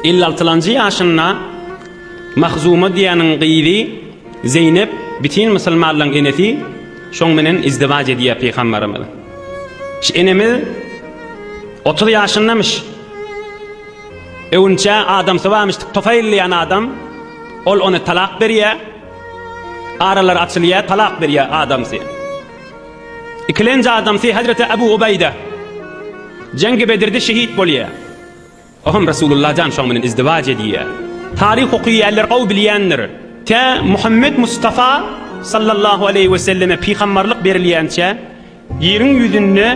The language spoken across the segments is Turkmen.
Elli altylanjy ýaşynda Mahzuma diýäniň gyzy Zeýnep bütin musulmanlaryň enesi şoň menen izdiwaç edýär pygambarymyz. Şu enemiz otuz ýaşyndamyş. Öwünçä adamsy barmyş Tufaýl diýen adam. Ol ony talak berýär. Aralary açylýar, talak berýär adamsy. Ikilenji adamsy Hazreti Abu Ubaýda. Jengi Bedirde şehit bolýar. Ohm Resulullah jan şoň bilen izdiwac edýär. Taryh okyýärler ow bilýändir. Tä Muhammet Mustafa sallallahu aleýhi we selleme pygambarlyk berilýänçä ýeriň ýüzünde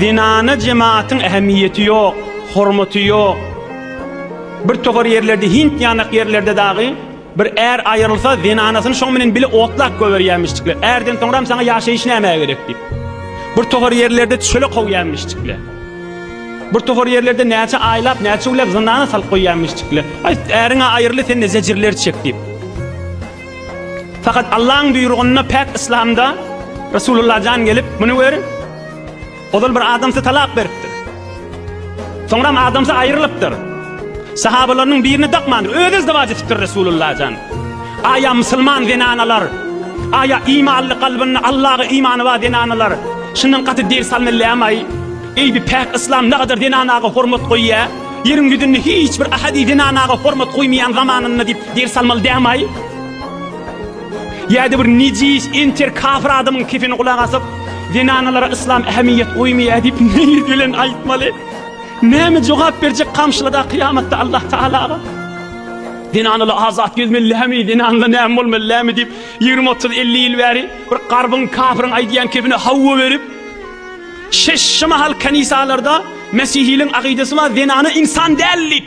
zenana jemaatyň ähemmiýeti ýok, hormaty ýok. Bir towar ýerlerde Hind ýanak ýerlerde dagy Bir är aýrylsa, zenanasyny şoň bilen bile otlap goýberýärmişjikler. Ärden soňram saňa ýaşaýyş nämä gerek diýip. Bir tohar ýerlerde çöle kowýärmişjikler. Bir tohar ýerlerde näçe aýlap, näçe güläp zynana salyp goýýarmyşjikler. Aý, äriň-ä aýryly, sen-de zejirler çek diýip. Fakat Allaň buýrugynda päk Islamda Resulullah jan gelip, muny gör, Ozal bir adamsy talak beripdir. Soňram adamsy aýrylypdyr. Sahabalarynyň birini dakmandyr. Özi izdiwaç etipdir Resulullah jan. Aýa musulman zenanalar, aýa imanly kalbynda Allaha imany bar zenanalar şundan gaty ders almallyammay? Eýbi päk yslam nagadar zenanaga hormat goýýa? Ýeriň ýüzünde hiç bir ahadi zenanaga hormat goýmaýan zamanynda diýip ders almaly dämaý? Ýa-da bir nejis enter kafir adamyň kefeni gulak asyp, zenanalara yslam ähmiýet goýmaýar diýip neýir bilen aýtmaly? Näme jogap berjek kamşylada kyýamatda Allah Tagalaga? Zenanaly azat gezmelimi, zenanla näme bolmalylamy diýip 20-30-50 ýyl bäri bir garbyň kafirin aýdýan kefine hawa berip, şeşşi mahal kanisalarda mesihiliň akydasy bar, zenana insan däl diýip.